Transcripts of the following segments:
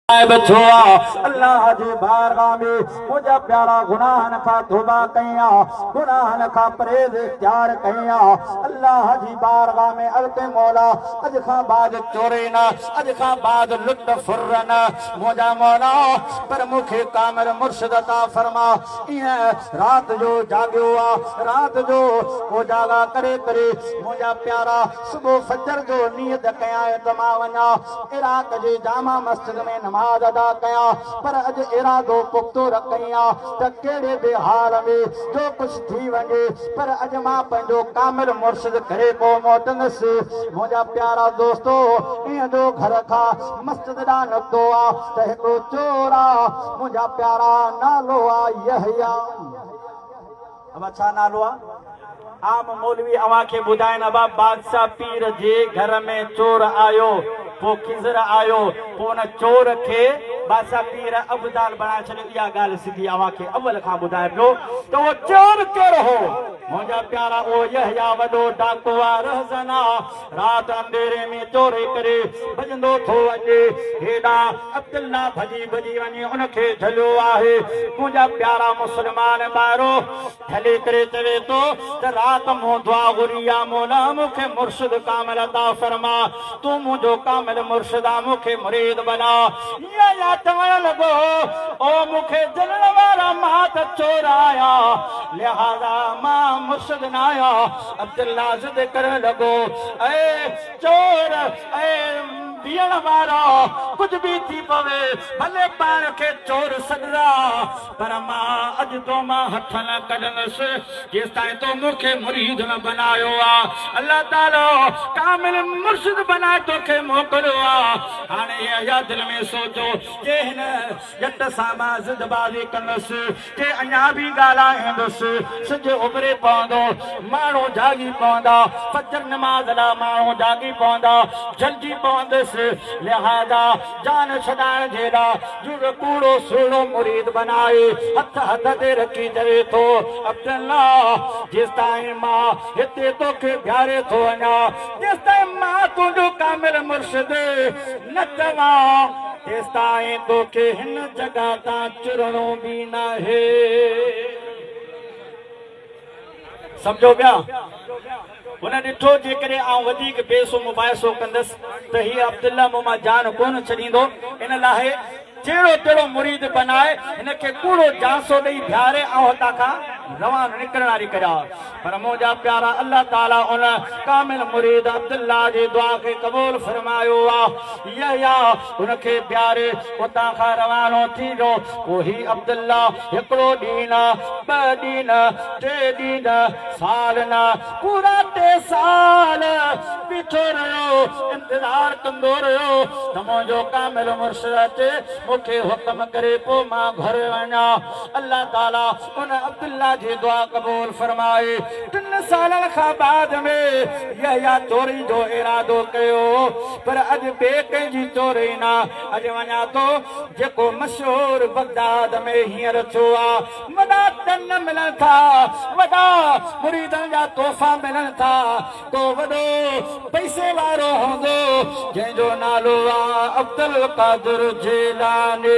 الله جي بارگاھ ۾ منهنجا پيارا گناهن کان توبه ڪئي آ گناهن کان پرهيز اختيار ڪئي آ الله جي بارگاھ ۾ عرض ڪئي مولا اڄ کان بعد چوري نه اڄ کان بعد لٽ ڦر نه منهنجا مولا پر مون کي ڪامل مرشد عطا فرما ايئن رات جو جاڳيو آ رات جو اوجاڳا ڪري ڪري منهنجا پيارا صبح فجر جو نيت ڪيائين ته مان وڃان عراق جي جامع مسجد ۾ نماز ادا ڪيان پر اڄ ارادو پختو رکئين ها ته ڪهڙي به حال ۾ جو ڪجهه ٿي وڃي پر اڄ مان پنهنجو ڪامل مرشد ڪري ڪو موٽندس منهنجا پيارا دوستو ائين جو گهر کان مسجد ڏانهن نڪتو ها ته هڪڙو چور آ منهنجا پيارا نالو آ يحيٰ ابا ڇا نالو آ عام مولوي اوهان کي ٻڌائين ابا بادشاهه پير جي گهر ۾ چور آيو پو خضر آيو پو ان چور کي بادشاهه پير ابدال بڻائي ڇڏيو اها ڳالهه سڌي اوهان کي اول کان ٻڌايان پيو ته اهو چور ڪير هو منهنجا پيارا اهو يحيٰ وڏو ڊاڪو آ رهزن آ رات انڌيري ۾ چوري ڪري ڀڄندو ٿو اچي، هيڏانهن عبدالله ڀڄي ڀڄي وڃي ان کي جهليو آهي. منهنجا پيارا مسلمان ڀائرو! جهلي ڪري چوي ٿو ته رات مون دعا گهري يا مولا مون کي مرشد ڪامل عطا فرما، تون منهنجو ڪامل مرشد آهين مون کي مريد بنا. ايئن يا چوڻ لڳو او مون کي جهلڻ وارا مان ته چور آهيان لهٰذا مان مرشد ناهيان. عبدالناز تي ڪرڻ لڳو، اي چور، اي بيهڻ وارا، ڪجهه به ٿي پوي، ڀلي پاڻ کي چور سڏراء، پر مان اڄ تو مان هٿ نه ڪڍندس، جيستائين تو مون کي مريد نه بنايو آ. الله تعاليٰ ڪامل مرشد بنائي تو کي موڪليو آ. هاڻي يحيٰ دل ۾ سوچيو، جي هن ڄٽ سان مان ضد بازي ڪندس، تي اڃا به ڳالهائيندس. سج اڀري پوندو، ماڻهو جاڳي پوندا، فجر نماز لاء ماڻهو جاڳي پوندا، جلجي پوندس، لهذا جان ڇڏائڻ جي لاء جوڳ ڪوڙو سهڻو مريد بنائي هٿ هٿ تي رکي چوي ٿو، عبدالله! جيستائين مان هتي توکي بيهاري ٿو وڃان، تيستائين مان تنهنجو ڪامل مرشد نه چوان. تيستائين توکي هن جڳهه تان چرڻو به ناهي. سمجهو پيا؟ هن ڏٺو جيڪڏهن آئون وڌيڪ بيسو مباحثو ڪندس ته هي عبدالله مون مان جان ڪونه ڇڏيندو، ان لاء جهڙو تهڙو مريد بنائي هن کي ڪوڙو جانسو ڏئي بيهاري آئون هتان کان روانو نڪرڻ واري ڪريان. پر منهنجا پيارا الله تعالي ان ڪامل مريد عبدالله جي دعا کي قبول فرمايو آ. يحيٰ ان کي بيھاري اتان کان روانو ٿي ويو. پوء هي عبدالله هڪڙو ڏينهن نه، ٻه ڏينهن نه، ٽي ڏينهن نه، سال نه، پورا ٽي سال بيٺو رهيو، انتظار ڪندو رهيو ته منهنجو ڪامل مرشد اچي مون کي حڪم ڪري پوء مان گهر وڃان. الله تعالي ان عبدالله جي دعا قبول فرمائي ٽن سالن کان بعد ۾ يحيٰ چوري جو ارادو ڪيو پر اڄ ٻئي ڪنهن جي چوري نه اڄ وڃان ٿو جيڪو مشهور بغداد ۾ هينئر ٿيو آ وڏا ٽن ملن ٿا وڏا مريدن جا تحفا ملن ٿا ڪو وڏو پئسي وارو هوندو جنهن جو نالو آ عبدالقادر جيلاني.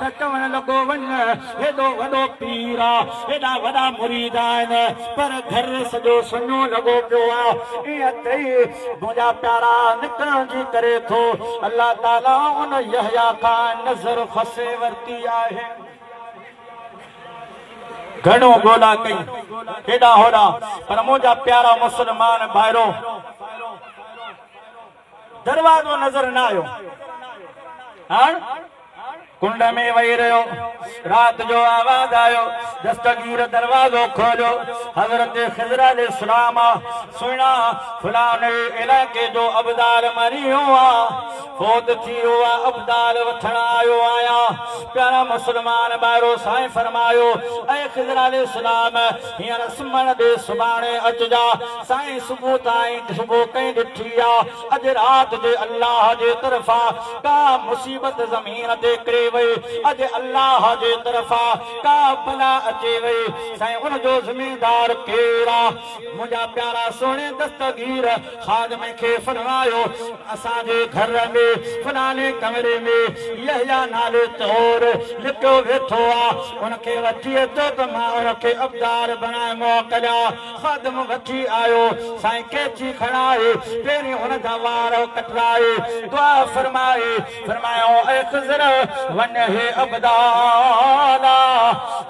ته چوڻ لڳو وڃ هيڏو وڏو پير آ هيڏا وڏا مريد آهن پر گهر سڄو سڃو لڳو پيو آ ائين چئي منهنجا پيارا نڪرڻ جي ڪري ٿو الله تعالي ان يحيٰ کان نظر کسي ورتي آهي گهڻو ڳولا ڪئي هيڏا هوڏا پر منهنجا پيارا مسلمان ڀائرو. دروازو نظر نه آيو. هاڻ ڪنڊ ۾ وهي رهيو. رات جو آواز آيو. دستگير دروازو کوليو. حضرت خضر عليه السلام آ. سهڻا، فلاني علائقي جو ابدال مريو آ. فوت ٿي ويو آ. ابدال وٺڻ آيو آهيان. پيارا مسلمان ڀائرو! سائين فرمايو، اي خضر عليه السلام! هينئر سمهڻ ڏي، سڀاڻي اچجان. سائين صبح تائين صبح ڪئين ڏٺي آ اڄ رات جي الله جي طرفان ڪا مصيبت زمين تي ڪري وئي اڄ الله جي طرفان ڪا بلا اچي وئي سائين ان جو ذميدار ڪير آ منهنجا پيارا سهڻي دستگير خادمي کي فرمايو اسان جي گهر ۾ فلاني ڪمري ۾ يحيٰ نالي چور لڪيو ويٺو آ ان کي وٺي اچو ته مان ان کي ابدار بڻائي موڪليان. خادم وٺي آيو، سائين قيچي کڻائي، پهرين هن جا وار ڪٽرائي، دعا فرمائي، فرمايائون، اي خضر! وڃ هي ابدالا!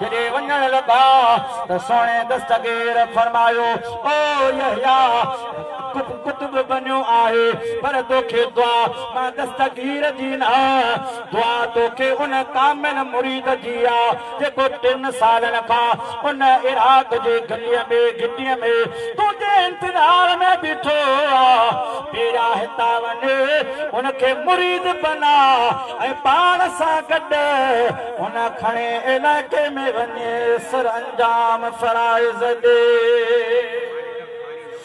جڏهن وڃڻ لڳا ته سهڻي دستگير فرمايو، او يحيٰ! تو قطب بنيو آهي، پر توکي دعا مان دستگير جي نه، دعا توکي ان ڪامل مريد جي آ، جيڪو ٽن سالن کان ان عراق جي گليء ۾ گهٽيء ۾ تنهنجي انتظار ۾ بيٺو آ، پيرا هتان وڃ، ان کي مريد بنا ۽ پاڻ سان گڏ ان کڻي علائقي ۾ وڃي سرانجام فرائض ڏي.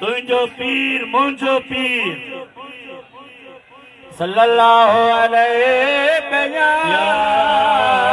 تنهنجو پير منهنجو پير صلّي اللّٰه عليه پنهنجا.